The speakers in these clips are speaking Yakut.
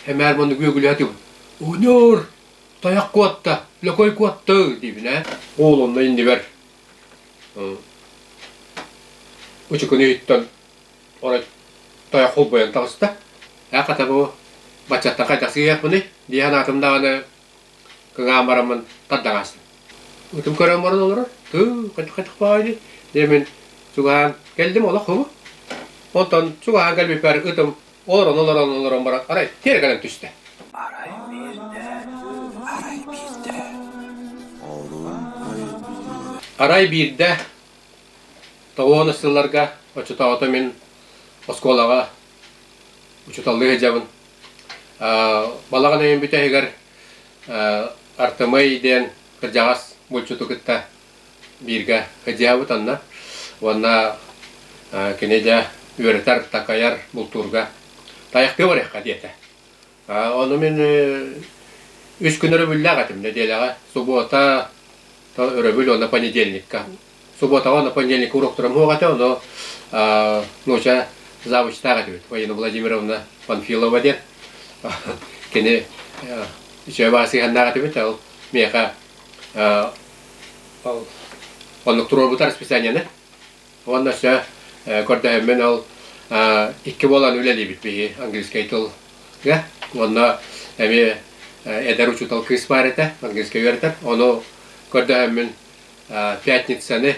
Эмээр маннык үөгүлээтим. Оонньуур, тайах куотта, лөкөй куотта диибин ээ. Уол онно иннибэр ычыкын иһиттэн орой тайах холбойон таҕыста. Ээ хата бу баччаттан хайдах сыыйахпыный? дии санаатым даҕаны кыҥаан бараммын тардаҕаастым. Ытым көрөн баран олорор. Тыы, хачык-хачык баай дии. Диэмин чугаһаан, кэлдим олох хобу. Онтон чугаһаан кэлбиппэр ытым олорон олорон олорон баран арай тиэрэ гынан түстэ. Арай биирдэ, арай биирдэ. Арай биирдэ тоҕуон сылларга оччотоото мин оскуолаҕа учууталлыы сылдьабын. Балаҕан өйүн бүтэһигэр Артемый диэн кырдьаҕас булчуту кытта бииргэ кыдьаабытаннар уонна кини дьэ үөрэтэр, такайар бултуурга тайахтыы барыахха диэтэ. Ону мин үс күн өрөбүллээх этим нэдиэлэҕэ субуота, өрөбүл уонна понедельникка. Субуотаҕа уонна понедельникка уруоктарым суох этэ, ону нууча завучтаах этибит. Ваина Владимировна Панфилова диэн кини үчүгэй баасыһыаннаах этибит, ол миэхэ Оннук туруорбутар расписанияны уонна өссө көрдөһөммүн ол икки буолан үлэлиибит биһи английскай тылга уонна эмиэ эдэр учуутал кыыс баар этэ английскай үөрэтэр ону көрдөһөммүн пятницаны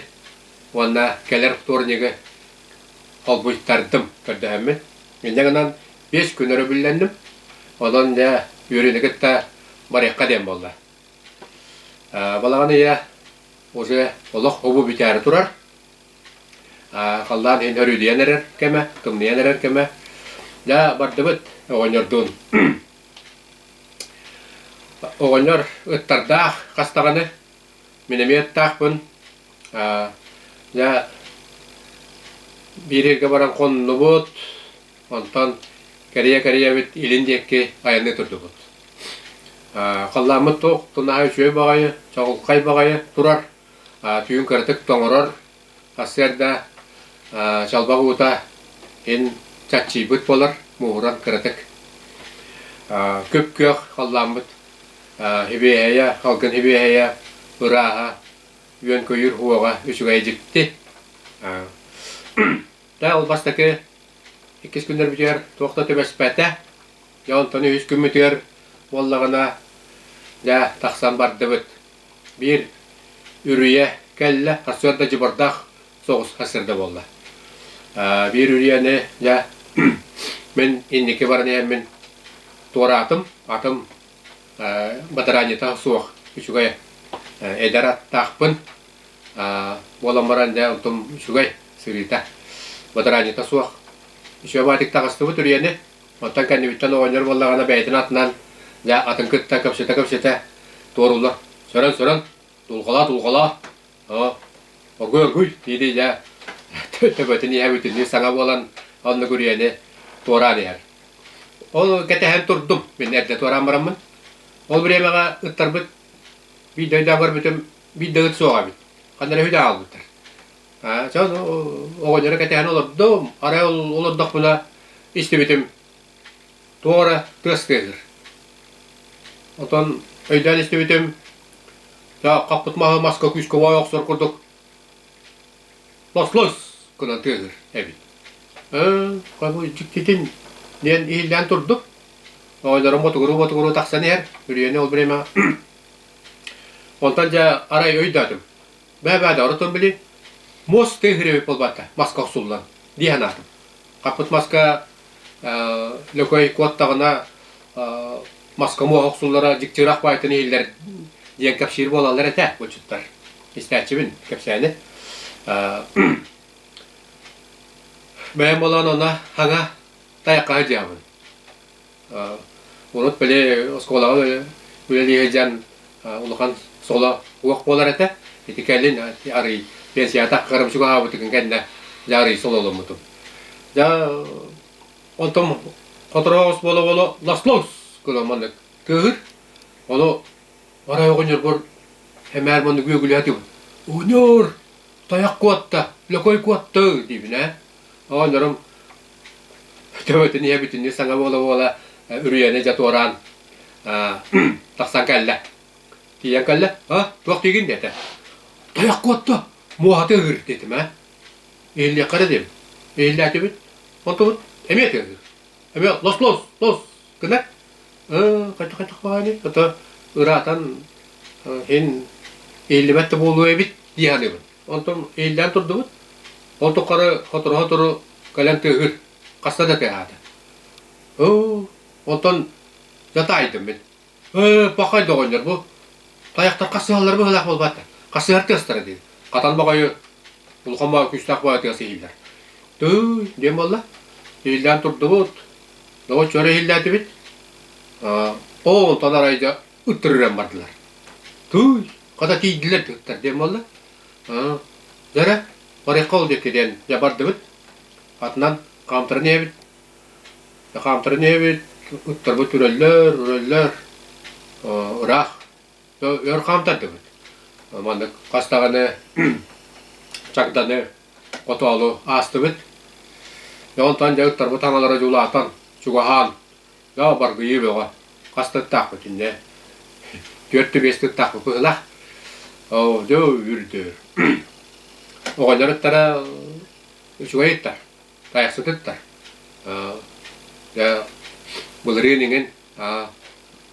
уонна кэлэр вторнигы холбуйтардым көрдөһөммүн инньэ гынан биэс күн өрөбүллэнним онон үөрүүнү кытта барыахха диэн буолла Балаҕан ыйа уже олох обу бүтээри турар. Халлаан иһин өрүүдүйэн эрэр кэмэ, тымныйан эрэр кэмэ. Дьэ, бардыбыт оҕонньордуун. Оҕонньор ыттардаах хас даҕаны мин эмиэ ыттаахпын. Дьэ, биир ыйга баран хоннубут. Онтон кэрийэ-кэрийэбит илин диэки айанныы турдубут. Халлааммыт туох, тунаһа үчүгэй баҕайы, чоҕулхай баҕайы турар, түүн кыратык тоҥорор, сарсыарда чалбах уута иһин чаччыйбыт буолар, мууһуран кыратык. Күп-күөх халлааммыт, хибиэһэйэ, халгын хибиэһэйэ, ырааһа, үөн-көйүүр уоҕа үчүгэйи дьикти. Даа ол бастакы иккис күннэрбитигэр туох да түбэспэтэ. Дьэ онтон үһүс күммүтүгэр буоллаҕына даа тахсан бардыбыт. Биир үрүйэ кэллэ, сарсыарда дьыбардаах соҕус сарсыарда буолла. Э, биир үрүйэни дьэ мин инники баран иһэммин туораатым, атын э, бадараанньыта суох үчүгэй э, эдэр аттаахпын. Буолан баран дьэ оттум үчүгэй сырыыта. Бадараанньыта суох. Үчүгэй баатык таҕыстыбыт үрүйэни. Оттон кэннибиттэн оҕонньор буоллаҕына бэйэтин атынан дьэ атын кытта кэпсэтэ-кэпсэтэ туоруулар. Сөрөн-сөрөн тулхалаа-тулхалаа огуй-огуй диэтий дьэ төбөтүн иһэ бүтүннүү саҥа буолан оннук үрүйэни туораан иһэр. Ол кэтэһэн турдум. Мин эрдэ туораан бараммын. Ол бириэмэҕэ ыттарбыт биир дойдуга көрбүтүм Билбэҕит суох эбит. Ханна үлэ хаалбыттар. Э, ча оҕонньоро кэтэһэн олордум. Арай олордохпуна истибитим туох эрэ тыас тыаһыыр. Отон өйдөөн истибитим ча хаппыт маһы маска күүскэ воя охсор курдук лос-лос гынан тыаһыыр эбит. Э, дьиктитин диэн иһиллээн турдум. Оҕонньорум ботугуруу-ботугуруу тахсан иһэр. Үрүйэни ол время Онтон дьэ арай өйдөөтүм. Бэбээ да оротун били, муос тыа хириэбит буолбакка, маска охсуллан, дии санаатым. Хаппыт маска Лөкөй куоттаҕына маска муоһа охсуллара дьиктирэх баайтын иһиллэр диэн кэпсиир буолаллар этэ булчуттар. Истээччибин кэпсээни. Бэйэм буолан онно хаҥа тайахха сылдьыһабын. Урут били оскуолаҕа үлэлии сылдьан улахан соло уох буолар этэ. Ити кэлин арый пенсияҕа тахсарым чугаһаабытын кэннэ дьэ арый сололоммутум. Дьэ онтон хотороос буола-буола ласлоус гынан маннык кыыһыр. Ону арай оҕонньорбор эмээр маннык үөгүлээтим. Оҕонньор, тайах куотта, лөкөй куотта диибин ээ. Оонньорум төбөтүн ийэ бүтүннүү саҥа буола-буола үрүйэни дьэ туораан тахсан кэллэ. Тиийэн кэллэ, а туох диигин диэтэ. Тайах куотта, муоһаты ыыр диэтим ээ. Иһиллиэххэ эрэ диэм. Иһиллээтибит. Онтубут эмиэ тыаһыыр. Эмиэ лос лос лос гынар. хайдах хайдах баҕайыны ото ыраатан иһин иһиллибэт да буолуо эбит дии саныыбын. Онтум иилдээн турдубут. Ол туххары хоторо-хотору кэлэн тыаһыыр. Хаста да тыаһаата. Оо, онтон дьатаайдым мин. Ыы, пахай доҕонньор бу. Тайахтар хасыһаллара быһыылаах буолбаттар. Хасыһар тыастара дии. Хатан баҕайы улахан баҕа күүстээх баҕа тыас иһиллэр. Тыый, диэн буолла. Иилдээн турдубут. Доҕор чөрө иһиллээтибит. Оо, онтон арай дьэ Уттарыран бардылар. Туй, хата тиийдилэр дьахтар диэн буолла. Аа, дьара, барыахха ол диэки диэн дьабардыбыт. Атынан хаамтаран ийэбит. Хаамтаран ийэбит, уттарбыт үрөллөр, үрөллөр. Ыраах. Өр хаамтардыбыт. Маннык хас даҕаны чагданы, хотоолу аастыбыт. Дьэ онтон дьэ уттарбыт аналара дьулаатан, чугаһаан Баргыйыы бөҕө. Хас тыттаахпыт иннэ? Түөртэ биэс тыттаахпыт быһылах. Оо, дьэ үрдүр. Оҕолоруттара үчүгэйиттар, тайахсытыттар. Дьэ, былырыын иҥин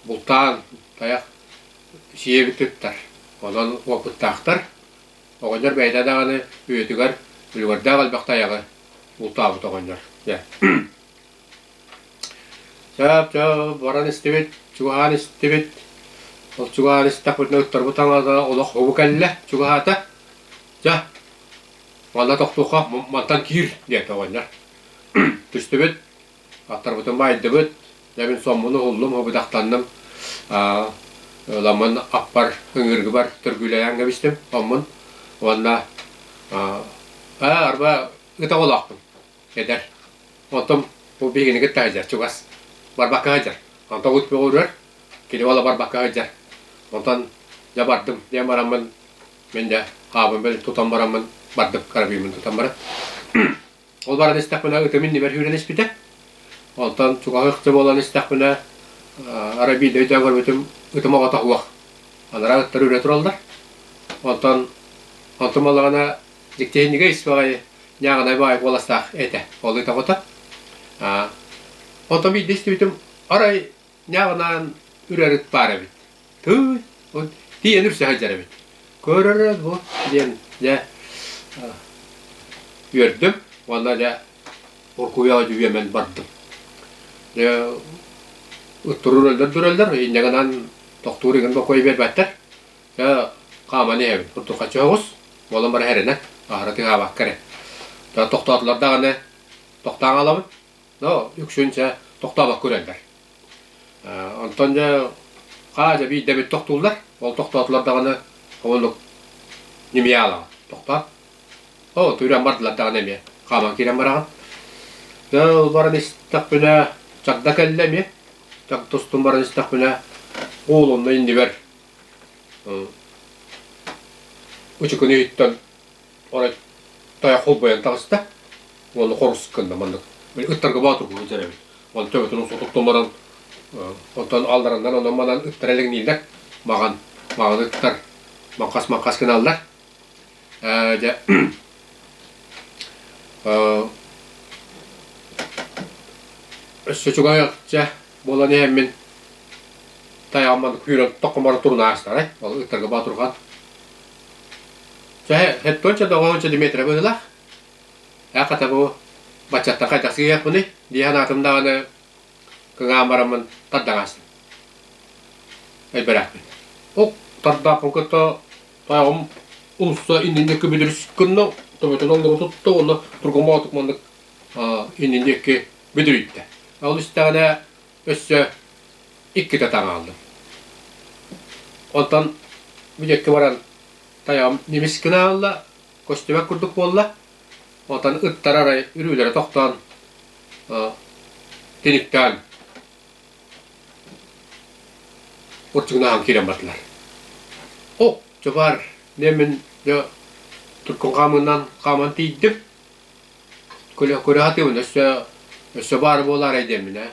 бултаан тайах сиэбиттар. Онон уопуттаахтар. Оҕонньор бэйэтэ даҕаны үйэтигэр үлүгэрдээх элбэх тайаҕы бултаабыт оҕонньор. Дьэ. Чаа, чаа, баран истибит, чугаһаан истибит. Ол чугаһаан истэхпитинэ ыттарбыт таҥаата олох угу кэллэ чугаһаата. Дьэ, манна тохтуохха, мантан киир, диэтэ оҕонньор. Түстүбүт, аттарбытын баайдыбыт, дьэбин соммуну уһуллум, убудахтанным. Ламын аппар ыҥыыргыбар төргүүлэйэн кэбистим, соммун. Уонна, ээ, арба, ытаҕалаахпын. Эдэр. Онтум бу биһигини кытта сылдьар, чугас. Барбакка сылдьар. Онтубут көҕүрэр, кини уола барбакка сылдьар. Онтон дьэ бардым, диэн бараммын, мин дэ хаабым бэл тутан бараммын, бардым, карабиниммын тутан баран. Ол баран истэхпинэ ытым иннибэр сүүрэн испитэ. Онтон чугаһы ыкты буолан истэхпинэ арабида өйдөөн көрбүтүм ытым оҕото суох. Анараа ыттар үрэ тураллар. Онтон онтум ылаҕына Тиэнигэ испэҕэй ньааҕынай баай уоластаах этэ. Ол ытаҕыта. Онто биирдэ истибитим, арай ньааҕынаан үрэрит баар эбит. Тыы, тиийэн үрсэ сылдьар эбит. Көрөрө бу диэн дьэ үөрдүм уонна дьэ уркуйаҕа дьүүйэмэн бардым. Дьэ турур өллөр дурөллөр инньэ гынан тохтуур игин бокуой биэрбэттэр. Э, хааман иһэбит курдук хачыһабыс. Буолан баран эрэнэ. Аһара тыҥаабакка эрэ. Да тохтоотулар даҕаны тохтоон хаалабыт. Но үксүн чэ тохтообокко үрэллэр. Э, онтон дьэ хаа дьэ биирдэбит тохтууллар. Ол тохтоотулар даҕаны хомунук ньимийэ хаалаҕын. Тохтоот. Оо, түрэн бардылар даҕаны эмиэ. Хааман киирэн бараҕын. Дьэ ол баран истэхпинэ чагда кэллэ эмиэ. Чаг тустун баран истэхпинэ куулунна иннибэр Учукуну иһиттэн ора тайах холбойон таҕыста уонна хорус гынна маннык ыттарга баатургугу дьэрэбит он төбөтүн сотуктун баран онтон алдараннан онон манан ыттара элэҥнииллэр маҕан маҕан ыттар маҥхас маҥхас гыналлар дьэ өссө чугаһыахча буолан иһэн мин тайаҕыммын күүрэн токкоморо турун аастарай ол ыттарга боотурхан чэ хеттонча доҕоонча дмитриевы ылах э хата бу баччаттан хайдах сыыйахпыный дии санаатым даҕаны кыҥаан бараммын тардаҥаастым элбэрэхпин ук тардаахпын кытта Таам уулусса иннинэ күбүлүрүс кынна, тоботон аллыбы тутта уонна тургуму атык маннык иннин диэки бүдүрүйдэ. Ол истэҕинэ өссө иккитэ таҥааллым. Онтон бүдүөккэ баран тайаам немис гынаалла, көстүбэк курдук буолла. Онтон ыттар арай үрүүлэрэ тохтоон тиниктээн Ортогун ааҕан киирэн бардылар. О, дьабаар, дьэ мин дьэ туркун хаамыынан хааман тиийдим. Көлө көрөһүтүмүн өссө өссө баар буолаарай диэммин ээ.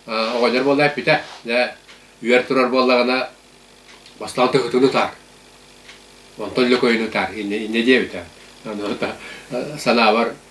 Оҕонньор буола эппитэ, дьэ үөр турар буоллаҕына бастаан тыһытын утаар. Онтон Лөкөйүн утаар иннэ иннэ диэбитэ. Санаабар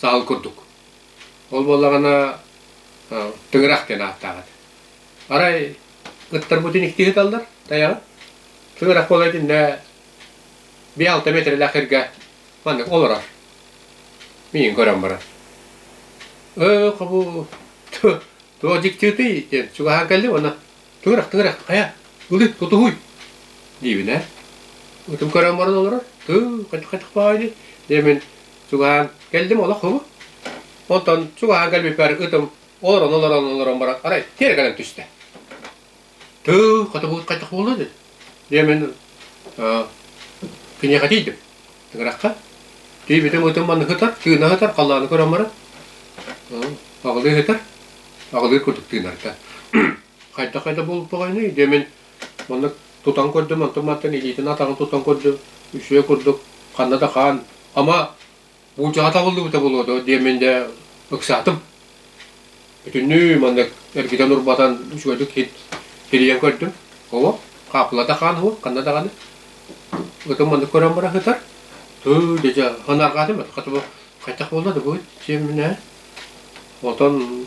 саал курдук. Ол буоллаҕына тыҥырах диэн ааттаах этэ. Арай ыттарбытын икки ыыталлар тайаҕы. Тыҥырах буола итиннэ биэ-алта миэтэрэлээх эргэ маннык олорор. Миигин көрөн баран. Өө, хабу, туо дьиктиутый диэн чугаһаан кэллим уонна Тыырах, тыырах, хайа, ылы, тутуһуй, диибинэ, ытым көрөн баран олорор, тыы, хачык-хачык баайдый, диэмин, чугаһаан, кэлдим олох һуру, онтон чугаһаан кэлбиппэр ытым олорон, олорон, олорон баран, арай тиэрэ гынан түстэ. Тыы, хотугуут хачык буолла дии, Дьэ мин киниэхэ тиийдим. Тыгырахха. Тиийбитим ытым манна сытар, тыына сытар, халлааны көрөн баран. Аҕылыы сытар. Аҕылыы курдук тыынарга. Хайда-хайда буолбаҕайный? Дьэ мин маннык тутан көрдүм, онтум мантан илиитин атаҕын тутан көрдүм. Үсүө курдук ханна да хаан. Ама Бучаҕа табыллыбыта буолуо диэмин да ыксаатым. Бүтүннүү маннык эргитэн урбатан үчүгэйдик тирийэн көрдүм. Ово, хааппылата хаан уһу, ханна даҕаны. Ытым маннык көрөн баран ытар. Тыы дьэ ханаргаатым, хатыба хайдах буолла да бу сиэмнэ. Онтон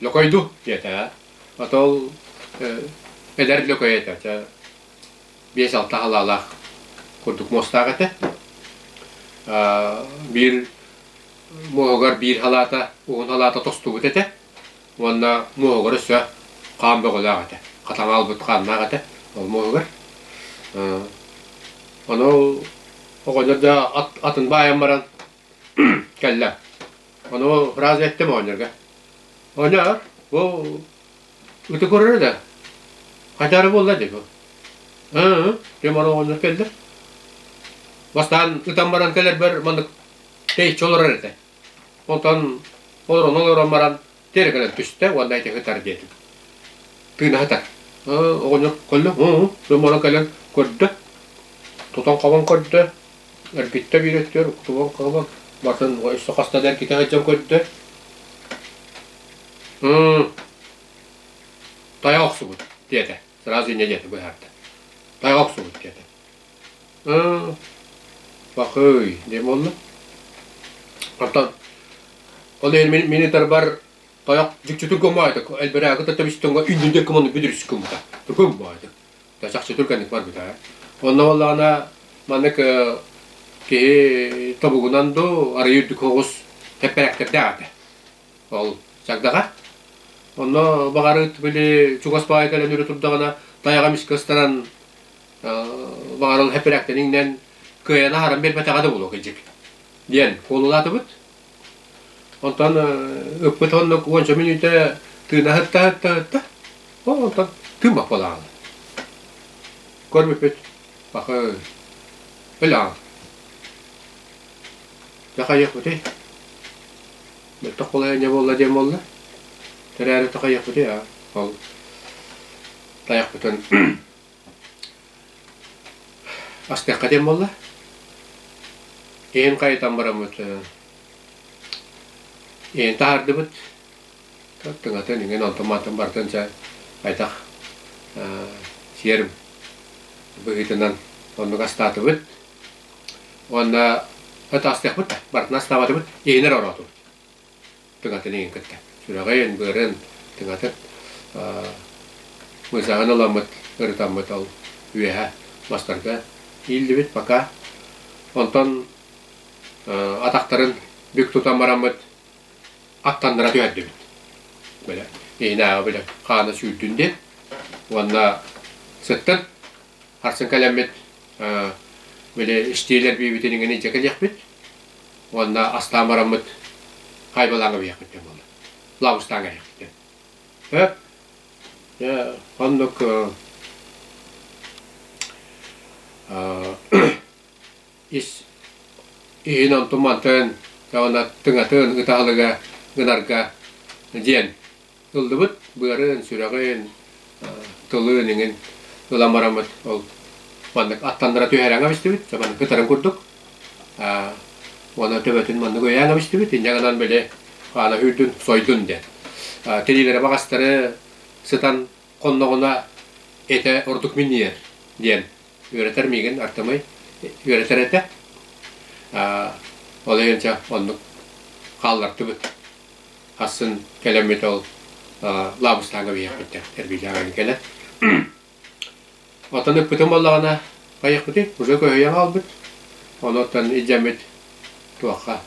Лөкөйдү, диэтэ. Ото ол эдэр Лөкөй этэ. Чэ, биэс-алта халаалаах курдук муостаах этэ. Биир муоһугар биир халаата, уһун халаата тостубут этэ. Уонна муоһугар өссө хаан бөҕөлөөх этэ. Хатаҥа аалбыт хааннаах этэ ол муоһугар. Ону оҕонньор да атын баайан баран Кэллэ. Ону фраза эттим оонньуурга. Оонньоор, бу ити көрөр да. Хайдары буолла дии бу. Ыы, ким оонньуур келдер. Бастан ытан баран келербер маннык тей чолорар этэ. Онтон олорон олорон баран Тиэрэ гынан түстэ уонна ити ыһытар диэтим. Тыынаһытар. Оҕонньор көллө, муомула кэлэн көрдө. Тутан хабан көрдө. Эрбиттэ биирэттиэр, уктубан кылыбан. Батын өссө хаста да эргитэ сылдьан көрдө. Тайа охсубут, диэтэ. Сразу инньэ диэтэ быһаарда. Тайа охсубут, диэтэ. Пакыый диэн буолла. Оттон ол иһин мин мин ытарбар тойох дьикчүтүк гумаатык элбэрээги та төбүстүҥҥэ үннүдэ кымыны бүдүрүс кумута гумаатык та чахчытыр кэнник барбыта онно буоллаҕына маннык киһи тобугунан дуу арыйы үрдүк оҕус эппэрээктэрдээтэ ол чагдаҕа онно баҕарыт били чугас баайа кэлэн өрө турдаҕына тайаҕа эмискэ ыстанан баҕаран хэппирээктэрин иҥнэн кыайан аһаран биэрбэтэҕэ да буолуо кыдьык диэн куолулаатыбыт. Онтон ыппыт онно уонча мүнүүтэ тыына ыһытта ыһытта ыһытта онтон күн баппалааҕа. Көрбүппүт баха өлөҕө. Дьэ хайыахпытый? Мөлтөх холайынньа буолла диэн буолла. Тэрээри тахайыахпытый аа ол тайахпытын Астыахха диэн буолла. Иһин хайытан бараммыт иһин таһаардыбыт. Тыҥатын иҥин онтон-маантан барытын чэ хайдах сиэр быһыытынан оннук астаатыбыт. Уонна ыт астыахпыт да барытын астаабатыбыт, иһинэр ороотубут. тыҥатын эҥин кытта. Сүрэҕин, быарын тыҥатын мыйсаһын ыламмыт, ырытаммыт ол үөһэ мастарга ииллибит пока. Онтон атахтарын бүк тутан бараммыт аттаннара түһэрдибит. Бөлө иһинээҕи бөлө хаана сүүрдүн диэн уонна сыттын Харсан кэлэммит били истиилэр биибитин иҥин илдьэ кэлиэхпит уонна астаан бараммыт хайбалааҥҥа биһиэхпит диэн буолла. Лаабыстааҥҥа эһиэхпитин. Э? Оннук ис иһин онтун мантан уонна тыҥатын ыта аһылыга гынарга диэн ыллыбыт быарын, сүрэҕин, тылын иҥин ылан бараммыт. Ол маннык аттаннара түһээрэҥҥэ бистибит, маннык кытарын курдук. Уонна төбөтүн маннык өйөөн бистибит, инньэ гынан били аана үүрдүн, сойдун диэн. Тириилэрэ баҕастары сытан хонноҕуна этэ ордук минньийэр диэн үөрэтэр миигин Артамай үөрэтэр этэ. Ол өйөнчө оннук хааллардыбыт. Хассын кэлэммит ол лаабыстааҥга биһиэхиттэн эргиллээҕин кэлэ. Оттон ыппытым буоллаҕына, поехпытый, уже көһүйэн хаалбыт. Ону оттон илдьэммит туохха,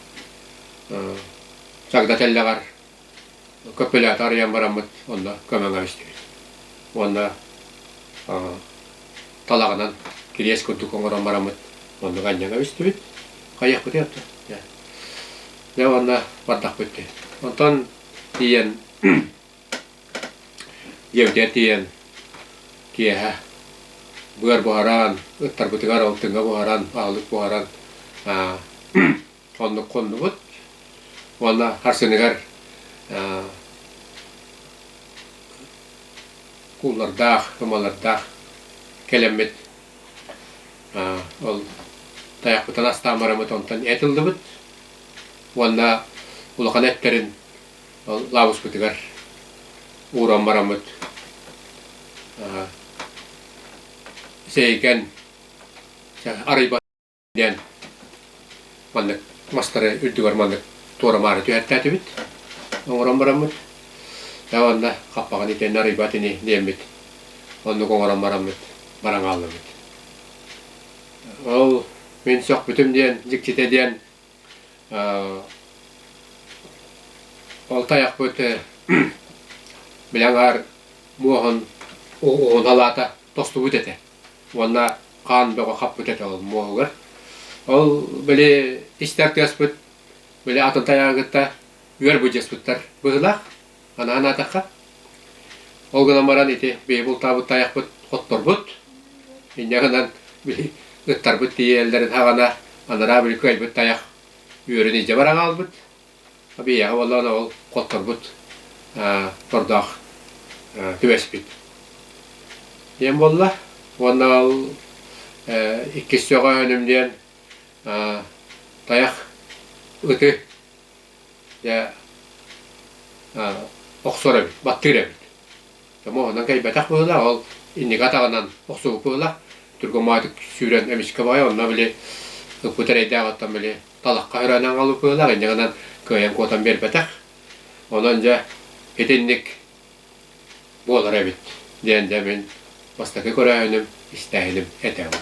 чагда тэллэҕэр капеллята арыйан бараммыт онно көмөҥө бистибит уонна талаҕынан кириэс курдук оҥорон бараммыт оннук анньыга бистибит хайыахпытый оттон дьэ уонна бардахпыт диэн онтон тиийэн дьиэбитигэр тиийэн киэһэ быар буһаран ыттарбытыгар алтыҥҥа буһаран аһылык буһаран оннук хоннубут уонна харсыныгар кууллардаах, ымалардаах кэлэммит ол тайахпытын астаан бараммыт онтон эт ыллыбыт уонна улахан эттэрин ол лаабыспытыгар ууран бараммыт сээкэн арыйбат диэн маннык мастары үрдүгэр маннык туора-маары түһэртээтибит оҥорон бараммыт э уонна хаппаҕын итиэннэ арыйбат ини диэммит оннук оҥорон бараммыт баран хааллыбыт ол мин сөхпүтүм диэн дьикситэ диэн ол тайахпыт билэн аһар муоһун уһун халаата тостубут этэ уонна хаан бөҕө хаппыта чоҕул муоһугар. Ол били истэр тыаспыт били атын тайаҕы кытта үөр быдьыаспыттар быһылаах, анаан аатахха. Ол гынан баран ити бэйи бултаабыт тайахпыт хотторбут, инньэ гынан били ыттарбыт тиийэллэрин хаҕана анараа били кыайбыт тайах үөрүн илдьэ баран хаалбыт. Абияһа буоллаҕына ол хотторбут тордоох түбэспит диэн буолла уонна ол иккис сөҕөөһүнүм диэн тайах ыты дьэ охсор эбит баттыыр эбит тоҥоһунан кэйбэтэх быһыылаах ол инники атаҕынан охсубут быһыылаах түргэн маатык сүүрэн эмискэ баҕайы онно били ыппыт эрэйдээх оттон били талахха өрөөн аҥалыкылаах инньэ гынан кыайан куотан биэрбэтэх. Онон дьэ итинник буолар эбит диэн дэ мин бастакы көрөөһүнүм, истээһиним этэбин.